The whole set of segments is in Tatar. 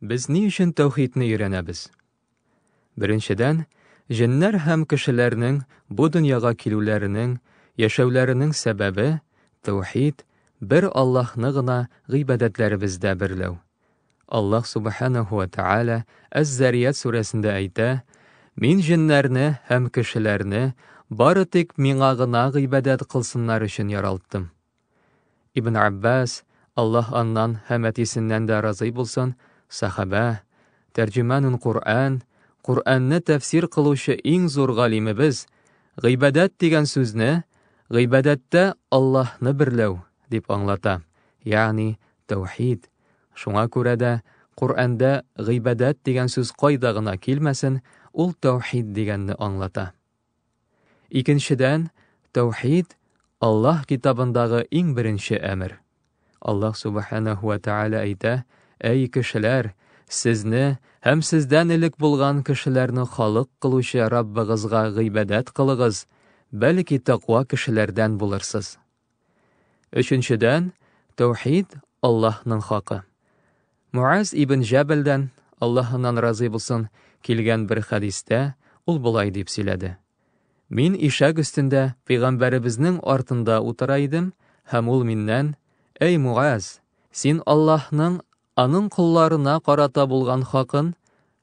Без ни өчен тәүхидне өйрәнәбез? Беренчедән, җеннәр һәм кешеләрнең бу дөньяга килүләренең, яшәүләренең сәбәбе, тәүхид, бер Аллаһны гына гыйбадәтләребездә берләү. Аллаһ Субханаһу ва Тәгалә Әз-Зарият сүрәсендә әйтә, Мин җеннәрне һәм кешеләрне бары тик миңа гына гыйбадәт кылсыннар өчен яралттым. Ибн Аббас, Аллаһ аннан һәм әтисеннән дә разый булсын, сәхабә, тәрҗеманун Куръән, Куръәнне тәфсир кылучы иң зур галимебез, гыйбадәт дигән сүзне гыйбадәттә Аллаһны берләү дип аңлата, ягъни тәүхид. Шуңа күрә дә Куръәндә гыйбадәт дигән сүз кайда гына килмәсен, ул тәүхид дигәнне аңлата. Икенчедән, тәүхид, Аллаһ китабындагы иң беренче әмер. Аллаһ Субханәһу вә Тәгалә әйтә, Әй кешеләр, сезне һәм сездән элек булган кешеләрне халык кылучы Раббыгызга гыйбадәт кылыгыз, бәлки тәкъва кешеләрдән булырсыз. Өченчедән, тәүхид Аллаһның хакы. Муаз ибн Җәбәлдән, Аллаһ аннан разый булсын, килгән бер хәдистә ул болай дип сөйләде. Мин ишәк өстендә пәйгамбәребезнең артында утыра идем, һәм ул миннән, Әй Муаз, син Аллаһның аның колларына карата булган хакын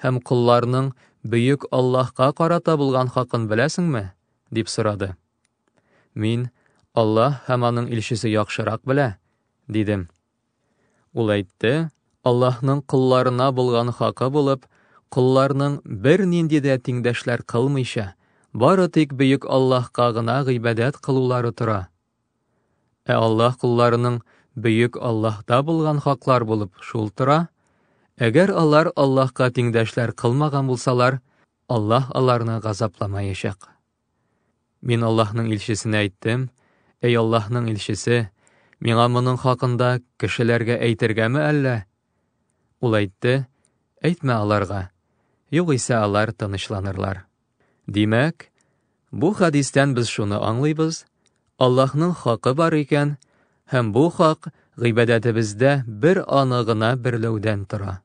һәм колларның бөек Аллаһка карата булган хакын беләсеңме? дип сорады. Мин, Аллаһ һәм аның илчесе яхшырак белә, дидем. Ул әйтте, Аллаһның колларына булган хакы булып, колларның бернинди дә тиңдәшләр кылмыйча, бары тик бөек Аллаһка гына гыйбадәт кылулары тора. Ә Аллаһ кулларының бөек Аллаһта булган хаклар булып шул тора. Әгәр алар Аллаһка тиңдәшләр кылмаган булсалар, Аллаһ аларны газапламаячак. Мин Аллаһның илчесенә әйттем, Әй Аллаһның илчесе, миңа моның хакында кешеләргә әйтергәме әллә? Ул әйтте, Әйтмә аларга, югыйсә алар тынычланырлар. Димәк, бу хадистән без шуны аңлыйбыз, Аллаһның хакы бар икән, һәм бу хак гыйбадәтебездә бер аны гына берләүдән тора.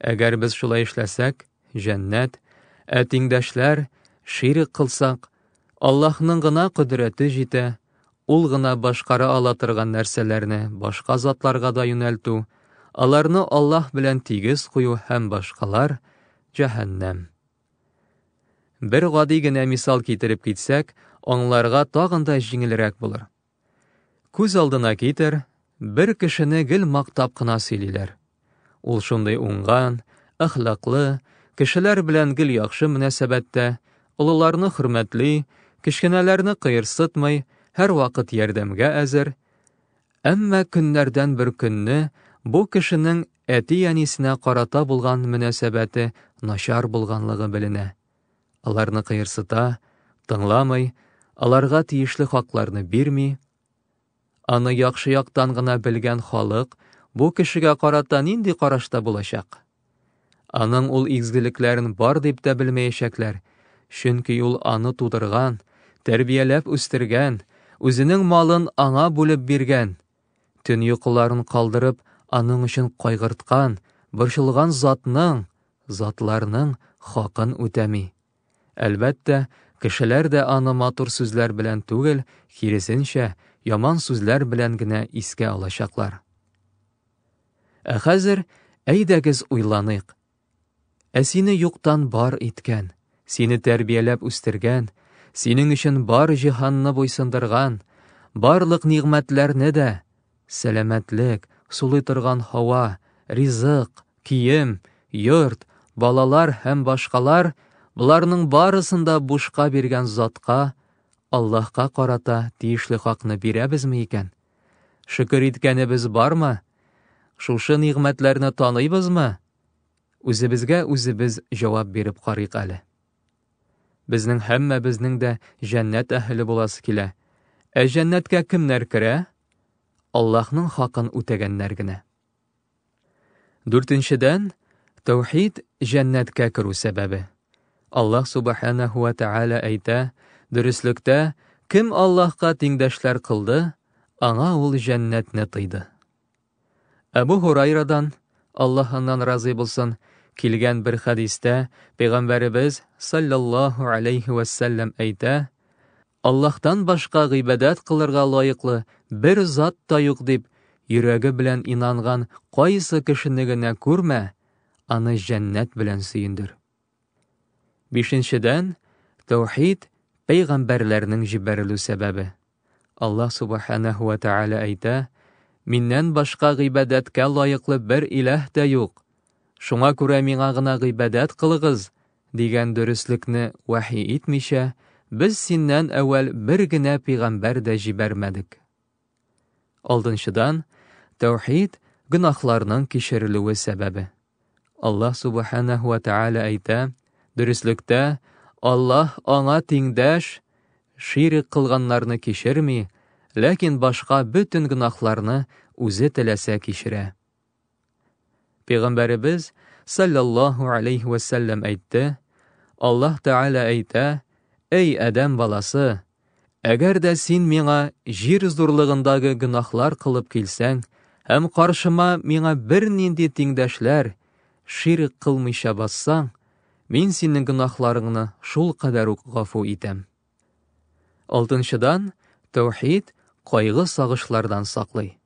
Әгәр без шулай эшләсәк, җәннәт, ә тиңдәшләр ширк кылсак, Аллаһның гына кодрәте җитә, ул гына башкара ала торган нәрсәләрне башка затларга да юнәлтү, аларны Аллаһ белән тигез кую һәм башкалар җәһәннәм. Бер гади генә мисал китереп китсәк, аңларга тагын да җиңелрәк булыр. Күз алдына китер, бер кешене гел мактап кына сөйлиләр. Ул шундый уңган, әхлаклы, кешеләр белән гел яхшы мөнәсәбәттә, олыларны хөрмәтли, кечкенәләрне кыерсытмый, һәрвакыт ярдәмгә әзер. Әмма көннәрдән бер көнне бу кешенең әти-әнисенә карата булган мөнәсәбәте начар булганлыгы беленә. Аларны кыерсыта, тыңламый, аларга тиешле хакларны бирми. Аны яхшы яктан гына белгән халык бу кешегә карата нинди карашта булачак? Аның ул изгелекләрен бар дип тә белмәячәкләр, чөнки ул аны тудырган, тәрбияләп үстергән, үзенең малын аңа бүлеп биргән, Төн йокыларын калдырып, аның өчен кайгырткан, борчылган затның, затларның хакын үтәми. Әлбәттә, кешеләр дә аны матур сүзләр белән түгел, киресенчә, яман сүзләр белән генә искә алачаклар. Ә хәзер әйдәгез уйланыйк, Ә сине юктан бар иткән, сине тәрбияләп үстергән, синең өчен бар җиһанны буйсындырган, барлык нигъмәтләрне дә, сәламәтлек, сулый торган һава, ризык, кием, йорт, балалар һәм башкалар, боларның барысын да бушка биргән затка, Аллаһка карата тиешле хакны бирәбезме икән? Шөкер иткәнебез бармы? Шушы нигъмәтләрне таныйбызмы? Үзебезгә үзебез җавап биреп карыйк әле. Безнең һәммәбезнең дә җәннәт әһеле буласы килә. Ә җәннәткә кемнәр керә? Аллаһның хакын үтәгәннәр генә. Дүртенчедән, тәүхид җәннәткә керү сәбәбе. Аллаһ субханаһу ва тааля әйтә, дөреслектә, кем Аллаһка тиңдәшләр кылды, аңа ул җәннәтне тыйды. Әбу Һурайрадан, Аллаһ аннан разый булсын, килгән бер хәдистә Пәйгамбәребез саллаллаһу алейхи вә сәлләм әйтә, Аллаһтан башка гыйбадәт кылырга лаеклы бер зат та юк дип, йөрәге белән инанган кайсы кешене генә күрмә, аны җәннәт белән сөендер. Бишенчедән, тәүхид пәйгамбәрләрнең җибәрелү сәбәбе. Аллаһ Субханәһу вә Тәгалә әйтә, Миннән башка гыйбадәткә лаеклы бер иләһ дә юк. Шуңа күрә миңа гына гыйбадәт кылыгыз, дигән дөреслекне вәхи итмичә, без синнән әүвәл бер генә пигамбәр дә җибәрмәдек. Алдынчыдан, тәүхид гөнаһларның кичерелүе сәбәбе. Аллаһ Субханәһу ва Тәгалә әйтә, дөреслектә, Аллаһ аңа тиңдәш, ширек кылганнарны кичерми, ләкин башка бөтен гөнаһларны үзе теләсә кичерә. Пәйгамбәребез саллаллаһу алейхи ва сәлләм әйтте, Аллаһ Тәгалә әйтә, Әй Адәм баласы, Әгәр дә син миңа җир зурлыгындагы гөнаһлар кылып килсәң, һәм каршыма миңа бернинди тиңдәшләр, ширк кылмыйча бассаң, мин синең гөнаһларыңны шул кадәр үк гафу итәм. Алтынчыдан, тәүхид кайгы-сагышлардан саклый.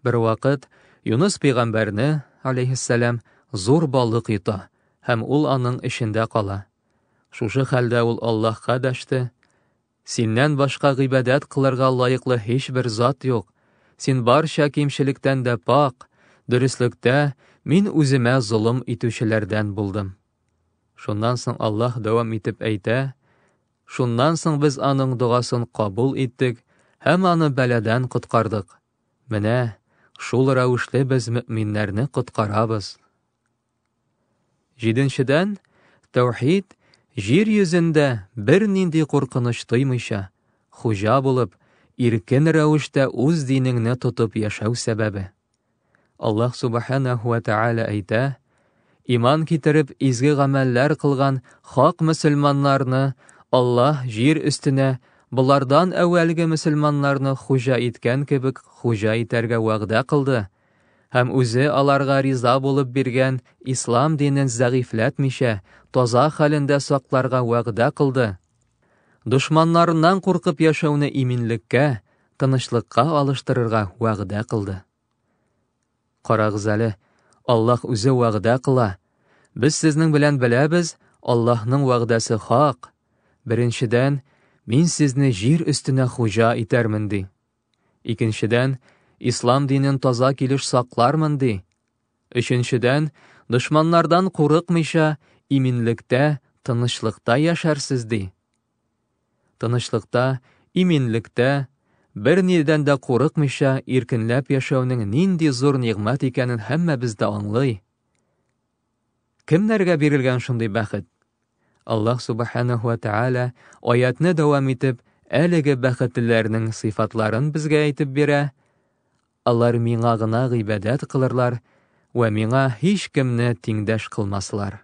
Бер вакыт Юныс пәйгамбәрне, алейһиссәлам, зур балык йота һәм ул аның эчендә кала. Шушы хәлдә ул Аллаһка дәште, Синнән башка гыйбадәт кылырга лаеклы һичбер зат юк. Син барча кимчелектән дә пак, дөреслектә мин үземә золым итүчеләрдән булдым. Шуннан соң Аллаһ дәвам итеп әйтә, Шуннан соң без аның догасын кабул иттек һәм аны бәладән коткардык. Менә шул рәвешле без мөминнәрне коткарабыз. Җиденчедән, тәүхид җир йөзендә бернинди куркыныч тоймыйча, хуҗа булып, иркен рәвештә үз динеңне тотып яшәү сәбәбе. Аллаһ Субханәһу вә Тәгалә әйтә, Иман китереп, изге гамәлләр кылган хак мөселманнарны Аллаһ җир өстенә болардан әүвәлге мөселманнарны хуҗа иткән кебек хуҗа итәргә вәгъдә кылды һәм үзе аларга риза булып биргән ислам динен зәгыйфләтмичә, таза хәлендә сакларга вәгъдә кылды. Дошманнарыннан куркып яшәүне иминлеккә, тынычлыкка алыштырырга вәгъдә кылды. Карагыз әле, Аллаһ үзе вәгъдә кыла. Без сезнең белән беләбез, Аллаһның вәгъдәсе хак. Беренчедән, мин сезне җир өстенә хуҗа итәрмен ди. Икенчедән, ислам динен таза килеш саклармын ди. Өченчедән, дошманнардан курыкмыйча, иминлектә, тынычлыкта яшәрсез ди. Тынычлыкта, иминлектә, бер нидән дә курыкмыйча иркенләп яшәүнең нинди зур нигъмәт икәнен һәммәбез дә аңлый. Кемнәргә бирелгән шундый бәхет? Аллаһ Субханаһу ва Тааля аятны дәвам итеп, әлеге бәхетлеләрнең сыйфатларын безгә әйтеп бирә. Алар миңа гына гыйбадәт кылырлар вә миңа һич кемне тиңдәш кылмаслар.